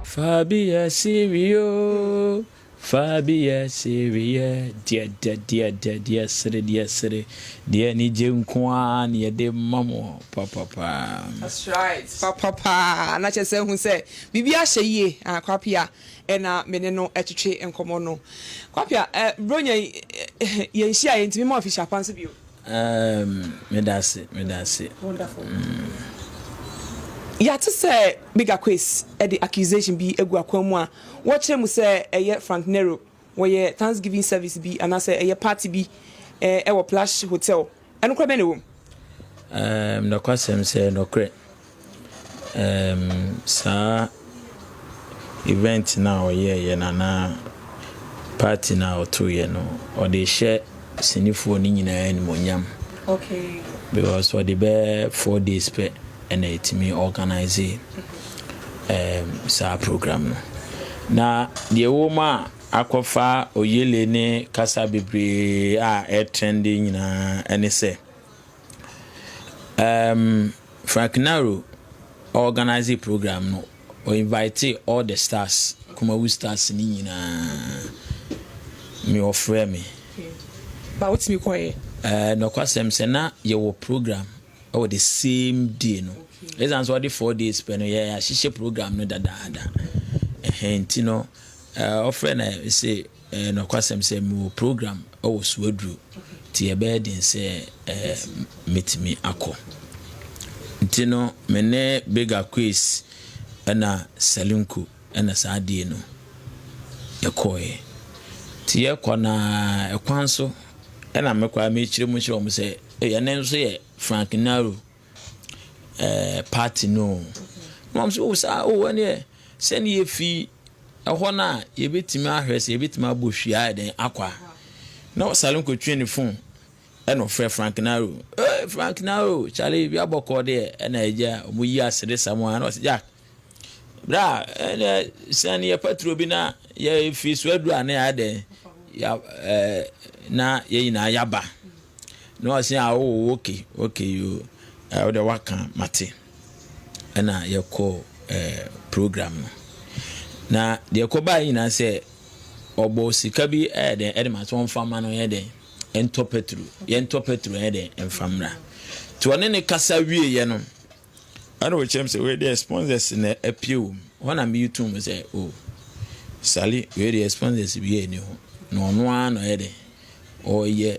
Fabia Sirio, Fabia Siria, deɛ dɛ deɛ dɛ deɛ sere deɛ sere deɛ anigye nko ara na yɛde ma mo papapaa. That's right papapaa na kyerɛ sɛ hu sɛ biribi ahyɛ yie ah Kwapea na me ne no twetwe nkɔmmɔ no. Kwapia, Buronya yi, yɛnhyia a, yɛntumi mmɔ afihyia pa nso bio. Erm, meda ase, meda ase. Wonderful. Yɛate sɛ Bigger Quays de accusation bi agu akwan mu a wɔkyerɛ mu sɛ ɛyɛ Frank Nero, wɔyɛ Thanksgiving service bi anaasɛ ɛyɛ party bi wɔ Plush Hotel Ɛnokorɛ bɛn na ɛwɔ mu? Um, nokwasɛm sɛ nokorɛ um, saa event no a ɔyɛɛyɛ no anaa party no a ɔtoeɛ no ɔde hyɛ sinifoɔ no nyinaa animonyam okay. because ɔde bɛɛ four days pɛ ɛna ɛtumi organise um, saa program no na deɛ ɛwɔ mu a akɔfa Oyele ne kasa bebree a ɛretrɛnde nyinaa ne sɛ, um, Frank Naro organize program no, o invite all the stars, Kumawu stars ne nyinaa. Me wɔfrɛ me. Ba wotumi kɔɛ? Eh, nɔkwasɛm sɛ na yɛwɔ program ɛwɔ the same day no. Ɛsan sɛ ɔde four days pɛ no yɛahyehyɛ program no dadaada. Ɛhɛn ti no Ɔfrɛ na ɔse, Nokwasɛm sɛ mewɔ program wɔ Suaduru nti ɛbɛyɛ den sɛ mɛtumi akɔ. Nti no me ne Big Aquis ɛna Salinko ɛna saa dei no yɛkɔɔɛ. Nti yɛkɔ no ara kwan so ɛna me koraa mekyerɛ mu kyerɛ wɔn sɛ ɛyɛ ɛno nso yɛ Frank Naro. ɛɛ party no o. Na wɔn sɛ o saa o ɛneɛ sɛdeɛ yɛfi ɛhɔ no a yɛbɛtumi ahwɛ sɛ yɛbɛtumi abɔ hwie ayɛ dɛn akɔ a na Salim kɔtwe ne phone ɛna ɔfrɛ Frank Naro ee Frank Naro kyale bi abɔkɔɔ deɛ ɛna agya wɔyi asedesa mu a na ɔsɛ Jack Bra, ɛnna sian yɛ paturo bi na yɛfiri so aduru a na yɛayɛ dɛn ya ɛɛ na yɛn nyinaa yaba na ɔse a ɔwɔ woke oke yo ɛwɔ dɛ waka mate ɛna yɛkɔ ɛɛ program no na deɛ kɔbaa yɛ nyinaa sɛ ɔbɔ sika bi ɛyɛ dɛn ɛde ma so ɔnfa ma no yɛ dɛn ɛntɔ paturo yɛntɔ paturo ɛyɛ dɛn ɛnfa mmra to ɔne ne kasa wie yɛ no. Ana ɔkyerɛ me sɛ wei deɛ sponsors na apue wɔ mu hɔ na meyi tum sɛ o oh, sale wei deɛ sponsors bi ani ho na ɔno ara na ɔyɛ dɛ ɔyɛ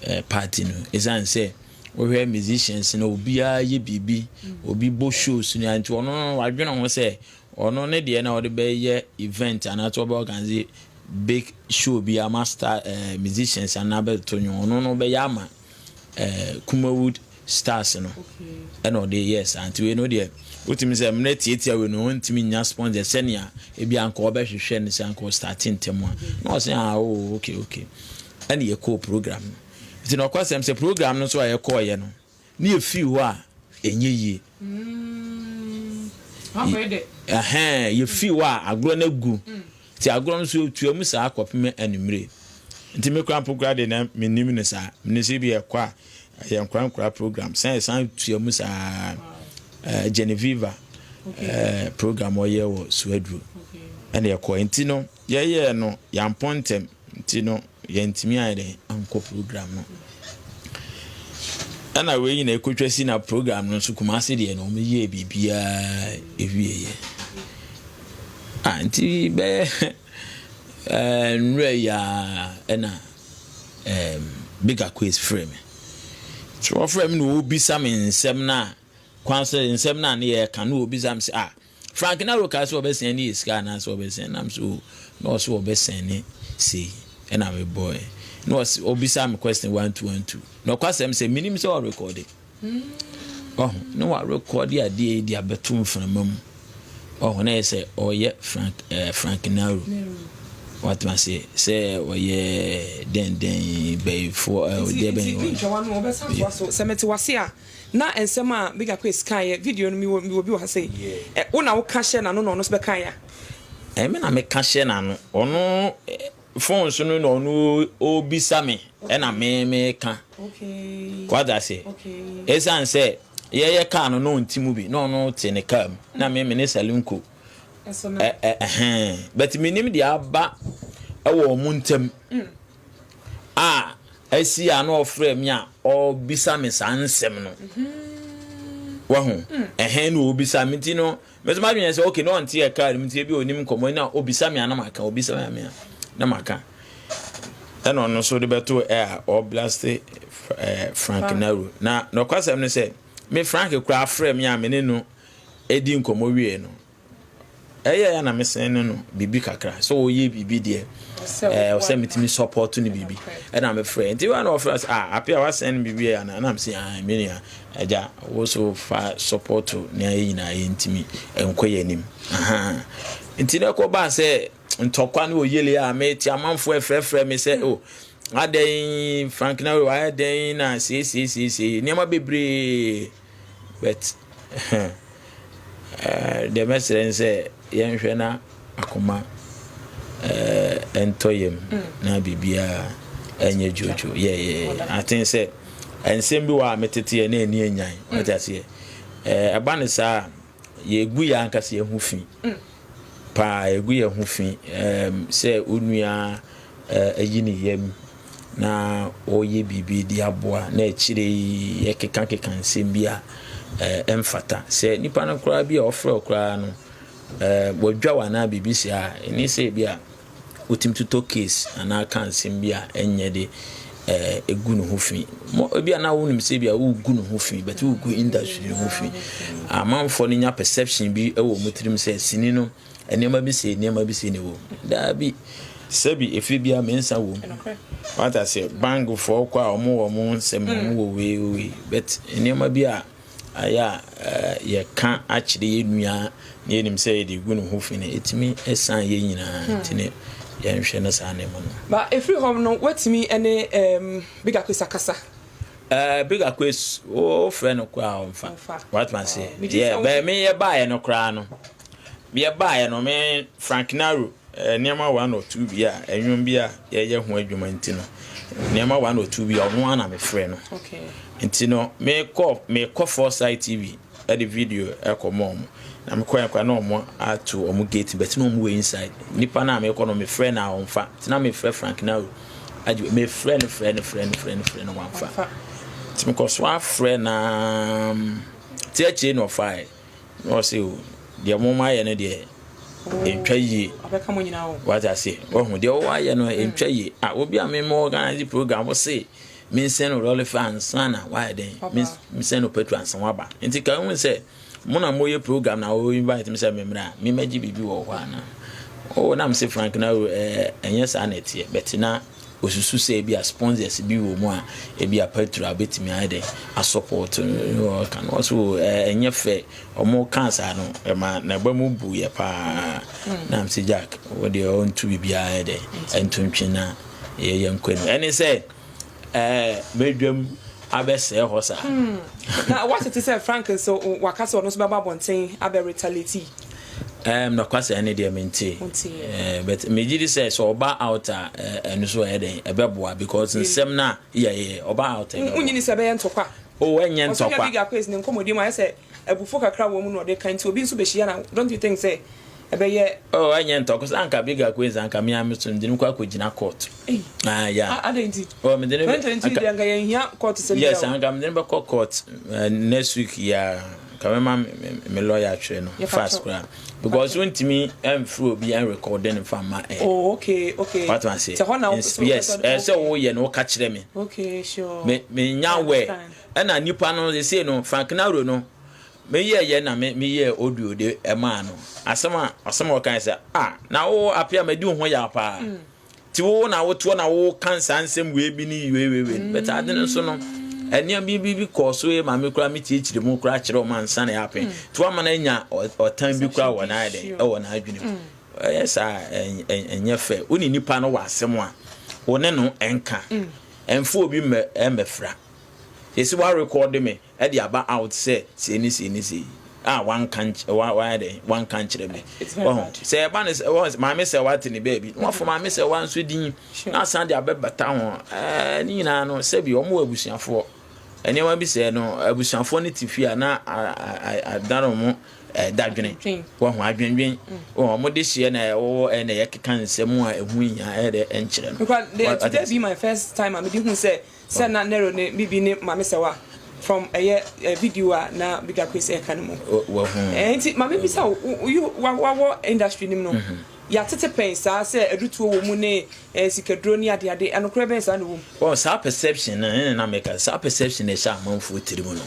eh, party no ɛsiane sɛ wohwɛ musicians na obiara yɛ biribi obi bɔ shows no nti ɔno no wadwene ho sɛ ɔno ne deɛ na ɔde bɛyɛ event anaasɛ ɔbɛ organize big show bi ama star eh, musicians anaa bɛto nwom ɔno no bɛyɛ ama ɛɛ Kumawood Stars no ɛna ɔde yɛɛ saa nti wei no deɛ wotumi sɛ mmerɛ tiatia wei no ɔntumi nya sponsor sɛnea ebi anka ɔbɛhwehwɛ no sɛ anka ɔstarte ntɛm a na ɔsɛ ah o oh, okay okay ɛna yɛkɔɔ program no nti na ɔkɔsɛm sɛ program no nso a yɛkɔɔyɛ no ne yɛfiri hɔ a ɛnyɛ yie mm. yɛfii hɔ a agorɔ no agu mm. Enti agorɔ no so tua mu saa kɔpem anwummere. Enti me koraa mpo koraa deɛ na mennim no saa. Menim sɛ ebi a ɛkɔ a, ɛyɛ nkora nkora program. Sɛ ɛsan tua mu saa ɛɛ Geneviva ɛɛ program ɔyɛ wɔ Suaduro ɛna ɛkɔ. Enti no yɛyɛɛ no, yɛampɔn ntɛm. Nti no yɛntumi ayɛ dɛn ankɔ program no. Ɛna wei nyina ɛkɔtwa si na program no nso Kumase deɛ no wɔn yɛɛ biribiara ɛwieɛ. Ah, nti bɛyɛ ɛɛ nwura yi a ɛna ɛɛ bigger quiz frɛ me. So wɔfrɛ me na wɔbisa me nsɛm no a kwan sɛ nsɛm no a ne yɛreka no wɔbisa me sɛ ah Frank na roka so ɔbɛsɛn ne yɛ sika anaa sɛ ɔbɛsɛn nam so o na ɔso ɔbɛsɛn ne sei ɛna me bɔɛ na ɔse ɔbisa me question one two one two na ɔkwasɛm sɛ menim sɛ ɔrekɔde ɔho na warekɔde adeɛ yi de abɛto mframa mu ɔho na yɛ sɛ ɔyɛ Frank eh, Frank Naro watuma se sɛ ɔyɛ dɛndɛn bɛyifoɔ eh, ɔdeɛ bɛn ɔyɛ sɛ mete wase a Na nsɛm a Big Aquis kae yɛ video no, mewɔ mewɔ bi wɔ ha sei. Ɛ, wo na woka hyɛ n'ano na ɔno nso bɛkae a? Ɛmi na meka hyɛ n'ano. Ɔno phone so no na ɔno ɔrebisa me ɛna me meka. Wate aseɛ? Ɛsiane sɛ yɛyɛ car no na ɔnte mu bi na ɔno te ne car mu na me me ne Salinko ɛ ɛ ɛhɛn but menim deɛ aba ɛwɔ wɔn ntam. a asi a na ɔfrɛ me a ɔbisa me saa nsɛm no wahu ɛhɛn na ɔbisa me nti no mɛsɛ madwene sɛ ok na ɔnte yɛ kaa no nti ebi ɔnim nkɔmmɔ na ɔbisa me a na maka ɔbisa me a na maka ɛna ɔno nso de bɛto ɛ a ɔblaste eh, frank naru na nɔkwasɛm no sɛ me frank koraa frɛ me a me ne no ɛdi nkɔmmɔ wie no Ɛyɛ a na mesɛn no no biribi kakra sɛ ɔyɛ biribi deɛ ɛɛ sɛ metumi support no biribi ɛna mefrɛ nti wa na ɔfrɛ sɛ ah ape a wasɛn no biribi yɛ ana na mesɛ ah me nua agya wo so fa support nea yɛ nyinaa yɛntumi nkɔ yɛ anim nti na ɛkɔ baa sɛ ntɔkwa ne ɔyele a mete amanfoɔ ɛfrɛfrɛ me sɛ o oh, adɛn frank na wayɛ dɛn na seesieseesei nneɛma bebree but deɛ mɛsrɛ ne sɛ yɛnhwɛ na akoma ɛntɔ yam na biribiara ɛnyɛ dwodwo yɛyɛ aten sɛ nsɛm bi wɔ a meteteɛ na ɛni anyan wate aseɛ ɛba ne saa a Yɛgu yɛn ankasa yɛn ho fi paa, yɛgu yɛn ho fi sɛ onua ayi ne yam na ɔyɛ biribi de aboa, na akyire yi yɛkekakeka nsɛm bi a ɛmfata. Sɛ nipa no koraa bi a ɔfrɛ koraa no, wadwa wo anaa biribi saa a, ɛne sɛ bi a Wotumi totɔ case anaa ka nsɛm bi a ɛnyɛ de eh, gu ne ho fi. Ebi a na wonim sɛ bi a wogu ne ho fi, but wogu industry ne ho fi. Amanfoɔ no nya perception bi wɔ wɔn tirim sɛ sini no nneɛma bi sei nneɛma bi sei na ɛwɔ mu. Daabi. Sɛbi efie biara mmiɛnsa wɔ mu. Wata sɛ bangfoɔ kɔ a wɔn wɔ wɔn nsɛm wɔn wɔ wei wei, but nneɛma bi a Ayɛ a yɛka akyerɛ yɛn nua na yɛnim sɛ yɛde gu ne ho fi no, ɛtumi san yɛn nyinaa. Hmm. Nti ne yɛnhwɛ no saa nneɛma no. Na ɛfiri hɔ no, woatumi ne um, Big Aquis akasa? Uh, Big Aquis, wofrɛ no koraa ɔmfa. Watuma se, yɛ bɛmi yɛ baeɛ no koraa no, Bia baeɛ no me Frank Naro nneɛma one or two bi a ɛnwom bi a yɛyɛ ho adwuma nti no nneɛma one or two bi a ɔno ana mefrɛ no nti no mekɔ mekɔ Foresight TV ɛde video ɛkɔ mɔ ɔmo na mekɔ yɛn kora na ɔmo ato ɔmo gate bɛti na ɔmo wɔ inside nipa na mekɔ no mefrɛ na ɔmfa nti na mefrɛ Frank Naro agye mefrɛ no frɛ no frɛ no frɛ no frɛ no wamfa nti mekɔ so afrɛ na ti akyire na ɔfae na ɔse o deɛ mo ayɛ no deɛ ɛntwa yie wate ase wahu deɛ wɔwɔ ayɛ no ɛntwa yie a obi a mema organize program se mensɛn no lɔlefa ansa na wayɛ dɛn mensɛn no patro ansa waba nti ka hu sɛ mo na moyɛ program na wo invite me sɛ memmra a memɛgye biribi wɔ hɔ ana o nam se frank na ɛnyɛ saa na ɛteɛ bɛte na Wosusu sɛ ebia sponsors bi wɔ mu a ebia Petro a betumi ayɛ dɛ asupport no. Ɔka no, ɔse, O, ɛ, ɛnyɛ fɛ. Ɔmo kaa saa no, ɛma n'aba mu buiɛ paa. Hmm. Na mese, Jack, wo deɛ ɔntu biribiara yɛ dɛ, ɛntu ntwe na yɛ yɛn nkɔ anim. Ɛne sɛ, ɛɛ, bɛdwam abɛsɛɛ hɔ saa. Hmm. Na wɔatete sɛ Frank nso, waka sɛ ɔno nso bɛba abɔnten abɛ retaliate. Ɛɛm nokwasɛ ɛne deɛ mentee ɛɛ but megye di sɛ sɛ ɔba out a ɛno so ɛyɛ dɛn ɛbɛboa because nsɛm no a yɛ yɛ ɔba out ɛbɛboa. Wonyi ni sɛ ɛbɛyɛ ntɔkwa. Oh ɛnyɛ ntɔkwa. Ɔsɛ big akwes ne nkɔmɔdi mu ayɛ sɛ abufo kakra wɔ mu na ɔde ka nti obi nso behyia na don't you think sɛ ɛbɛyɛ. Oh ɛnyɛ ntɔkwa cause anka big akwes anka me a me so mede no kɔ akɔgyina court. Ei. Ah yeah. Ah adɛn nti. Oh mede no. Twenty twenty three deɛ anka yɛnhia court sɛm biara o. Yes anka mede no bɛkɔ court next week yi ara. Nka me ma me lawyer atwerɛ no fast koraa because wontumi mfiri obi ɛnrekɔde no mfa mma ɛ oh, okay okay what ma se yes ɛsɛ woyɛ no woka kyerɛ me okay sure me menya wɛ ɛna nipa no ɛsei no Frank Naro no meyɛ yɛ na meyɛ audio de ɛmaa no asɛm a asɛm a ɔkae sɛ ah na wo apea madi wo ho yɛ paa mm. Ti wo na wotoɔ na woka nsaa nsɛm wei bi ne yuewewei no bɛtɛ ade no nso no ɛnneɛma bi bi bi kɔɔ so yɛ maame koraa metiekyiri mu koraa kyerɛ ɔma nsa na yɛapɛn mm. nti wama no anya ɔtan bi koraa wɔ n'ayɛ dɛn ɛwɔ n'adwene mu mm. ɛyɛ saa ɛnyɛ fɛ wo ne nipa no wɔ asɛm a wo ne no ɛnka mm. ɛmfa obi mmɛfra yɛsi woarekɔde me de aba out sɛ sei ne sei ne sei a wanka nky wa wayɛ dɛ wanka nkyerɛ me wahu sɛ ɛba ne sɛ wɔn maame sɛ wate ne baabi na wɔfɔ maame sɛ wa nso din na asan de abɛbata ho ɛɛ ne nyinaa no sɛbi wɔn wɔ abusuafoɔ nneɛma bi sɛ no abusuafoɔ no te fie a na adan wɔn ɛɛ dadwene wɔn adwendwen wɔn de hyɛ na ɛwɔ ɛɛ na yɛkeka nsɛm a ɛho nyinaa ɛyɛ dɛ ɛnkyerɛ no. because the today be my first time a mi di hu sɛ Sɛ na Nero ne Bibi ne Maame Sɛwa from ɛyɛ eh, video a na Bibi Akwesi ɛka no mu. Wahu. Eh, nti maame bisa wo, you wawɔ industry nim no, mhm. yɛatete pɛn saa sɛ adutuo wɔ mu ne eh, sikaduro ne adeade, anokorɛ bɛn saa na ɛwɔ mu? Wɔn saa perception no ne na meka saa perception na ɛhyɛ amanfoɔ tiri mu no.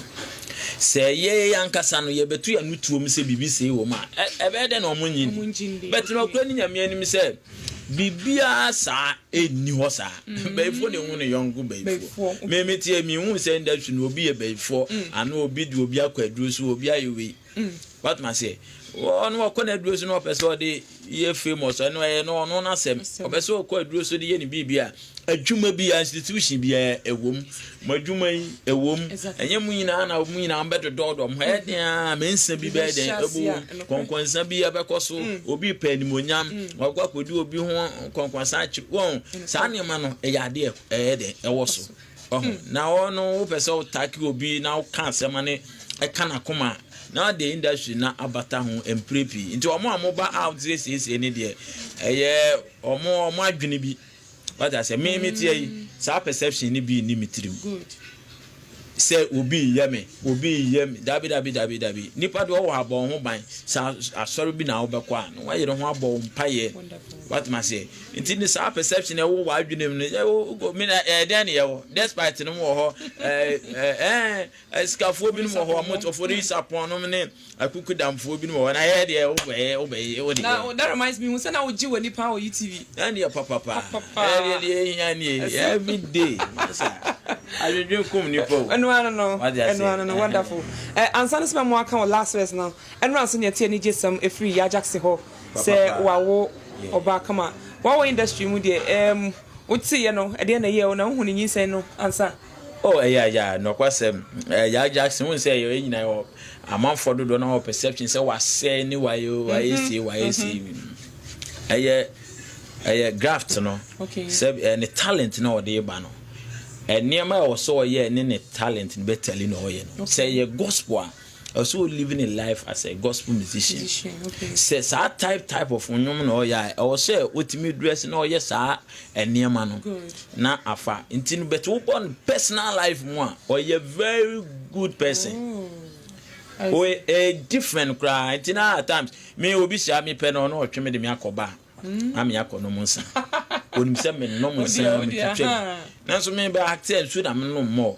Sɛ yɛyɛ ankasa no yɛbɛto yɛn ano tuom sɛ biribi sei wɔ mu a, ɛbɛyɛ dɛ na wɔn nyi ni. Bɛtena ɔkura ne nyame anim sɛ Biribiara saa nni hɔ saa. Bayifoɔ na ehu ne yɔnko bayifoɔ. Me me teɛ me hu sɛ industry no obi yɛ bayifoɔ anaa obi de obi akɔ aduro so obi ayɛ wei. W'atem aseɛ? Ɔno ɔkɔ n'aduro so na ɔpɛ sɛ ɔde yɛ famous ɛno ɛyɛ no ɔno n'asɛm. Ɔpɛ sɛ ɔkɔ aduro so de yɛ ne biribi a. Adwuma biara, institution biara, ɛwom, mo adwuma yi, ɛwom, ɛnyɛ mo nyinaa na mo nyinaa bɛdodɔɔdɔ mo ɛyɛ den a me nsa bi bɛyɛ den ɛbɔ wom kɔnkɔnsa bi ɛbɛkɔ so mm. obi pɛ animonyam mm. wakɔ akɔdi obi ho kɔnkɔnsa akyi wɔn saa nneɛma no ɛyɛ adeɛ ɛyɛ den ɛwɔ so ɔho mm. na ɔno wopɛ sɛ wotake obi na woka asɛm ne ɛka n'akoma na de industry na abata ho mpire pii nti wɔn a wɔba out siesie ne deɛ ɛyɛ wɔn wɔn adwene bi Wate aseɛ? Me me teɛ yi, saa perception no bi nni me tirim. Sɛ obi reyɛ me, obi reyɛ me. Dabi, dabi, dabi, dabi. Nipa deɛ ɔwɔ ha bɔ ho ban. Sɛ asɔre bi na wobɛkɔ a, na wayere ho abɔ mpaeɛ. Wate ma seɛ? Nti ne saa perception ɛwɔ w'adwenem no, ɛwɔ, me na ɛdɛn ne yɛwɔ? Despite no wɔ hɔ, ɛɛ, ɛɛ, Asikafoɔ binom wɔ hɔ a wɔn ɔfɔri nsapɔn nom ne akukudamfoɔ binom wɔ hɔ na ɛyɛ deɛ wobɛyɛ wobɛyɛ wode na that reminds me hu sɛ na wogye w'ani paa wɔ utv ɛneɛ papapa ɛdeɛ deɛ ɛhia nie everyday masa adwendwen kum nipa o ɛno ano no ɛno ano no wonderful ɛ ansa no sɛ bɛ mo aka wɔ last verse no ɛno ansa ne ɛte anigye sɛm ɛfiri yajakse hɔ sɛ wawo ɔbaa kama wawo industry mu deɛ ɛɛm woteeɛ no ɛdeɛ na ɛyɛ o na wohu ne nyinsɛn no ansa Oh ɛyɛ ya nɔkwasɛm eh, ya Jackson hu sɛ yɛ nyina yɛ amanfoɔ dodoɔ na wɔ perception sɛ wasɛe ne wayɛ o wayɛ mhm, sie wayɛ mhm. sie ɛyɛ ɛyɛ graft no sɛ eh, ne talent na ɔde ba no eh, nneɛma a ɛwɔ sɛ ɔyɛ ne ne talent no bɛtali na ɔyɛ no sɛ yɛ gospel a Ɔwɔ sɛ o living a life as a gospel musician. Sɛ saa type type of nnwom na ɔyɛ a, ɛwɔ sɛ otumi dress na ɔyɛ saa nneɛma no na afa. Nti no bɛte wobɔ no personal life mu a, ɔyɛ very good person. Oh. Ɔyɛ eh, different koraa. Nti na at times me obi hyia me pɛ no ɔno ɔtwe me de me akɔ ba. Hmm. Ame akɔ nom nsa. Onim sɛ me nom nsa me twitwa. Nanso me ba akte nsu na me nom mɔ.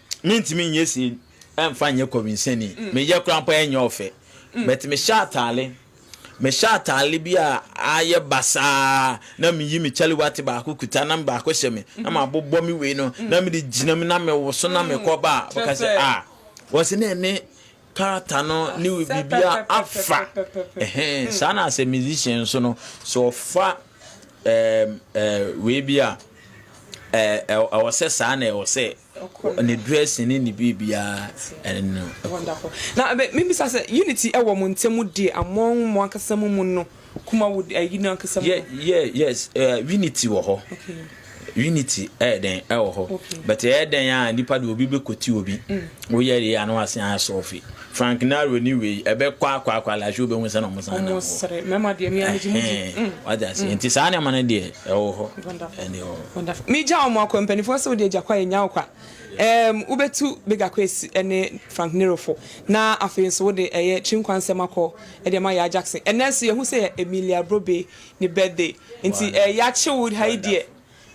Mentumi nyɛ sin mfa nyɛ kɔwinsɛni. Meyɛ koraa mpo a ɛnyɛ ɔfɛ. But mehyɛ ataale, mehyɛ ataale bi a ayɛ basaa na meyi me kyaliwate baako kuta na baako hyɛ me na mabobɔ me wei no na mede gyina mu na mewoso na mekɔ ba a, wɔka sɛ ah wɔn sɛ na ɛne character no ne biribiara afa. Ɛhɛn, saa na sɛ musician nso no, sɛ ɔfa ɛɛm ɛɛ wei bi a ɛɛ ɛwɔ sɛ saa na ɛwɔ sɛ Wɔ ne dressing ne ne biribiara ɛne no kɔ. Wonderful. Na me me bisa sɛ unity ɛwɔ mo ntɛm deɛ among mo ankasa mo mu no kuma wo ɛyi no ankasa mu no. Yɛ yɛ yes ɛɛ unity wɔ hɔ. Okay. Unity ɛyɛ dɛn ɛwɔ hɔ. Okay. But ɛyɛ dɛn a nipa de obi bɛ koti obi. Woyɛ yɛ ano asen ayɛ sɔɔfi. Frank Naro ni wei ɛbɛ kwa kwa kwa la show bɛ hu sɛ na ɔmo san na ɔmo sere mɛma deɛ mi amegye mu di wate ase nti saa nneɛma no deɛ ɛwɔ hɔ ɛne ɛwɔ hɔ mi gya ɔmo akɔ mpanimfoɔ sɛ wode agya kwa yɛ nya ɔkwa ɛɛm wobɛtu bega kwa esi ɛne Frank Nero fo na afei nso wode ɛyɛ kyinkwa nsɛm akɔ ɛde ɛma yaa Jackson ɛnɛ nso yɛ hu sɛ yɛ Emilia Brobe ne birthday nti ɛɛ yakye wo ha yi deɛ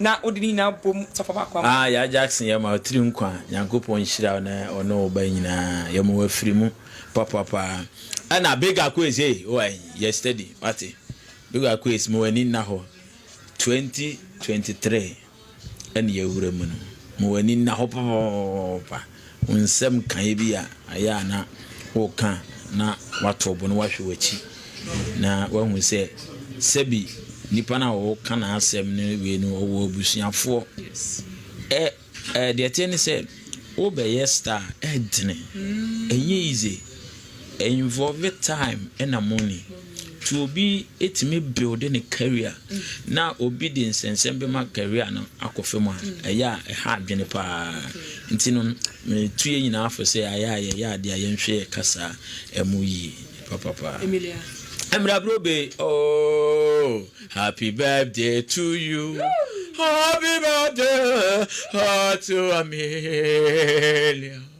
Na ɔde ne nyinaa bom safa baako ama. Ah Yaa Jackson yɛma wo tiri nkwa Nyankopɔn nhyira wo ne wo ne wo ba nyinaa yɛma wo afiri mu papa paa ɛna Big Akoes ei oai yɛ steady wate Big Akoes ma w'ani nna hɔ 2023 ɛne yɛwura mu no ma w'ani nna hɔ papa papa papa. Wo nsɛm nkaeɛ bi a ayɛ a na woreka na woato wo bo na woahwɛ w'akyi na woahu sɛ sɛbi nipa no a wɔka n'asɛm no wei no ɔwɔ abusuafoɔ. Ɛ ɛ deɛ ɛteɛ ne sɛ wobɛyɛ star ɛntene ɛnyɛ easy Involve time na money to obi tumi build ne career na obi de nsɛnsɛm bɛma career no akɔ fam a ɛyɛ a ɛha adwene paa nti no metu yɛ nyinaa fo sɛ ayɛ a yɛyɛ adeɛ a yɛnhwɛ yɛ kasa ɛmu yie papapaa. Emilia. Emira Brobe oh happy birthday to you happy birthday to Amelia.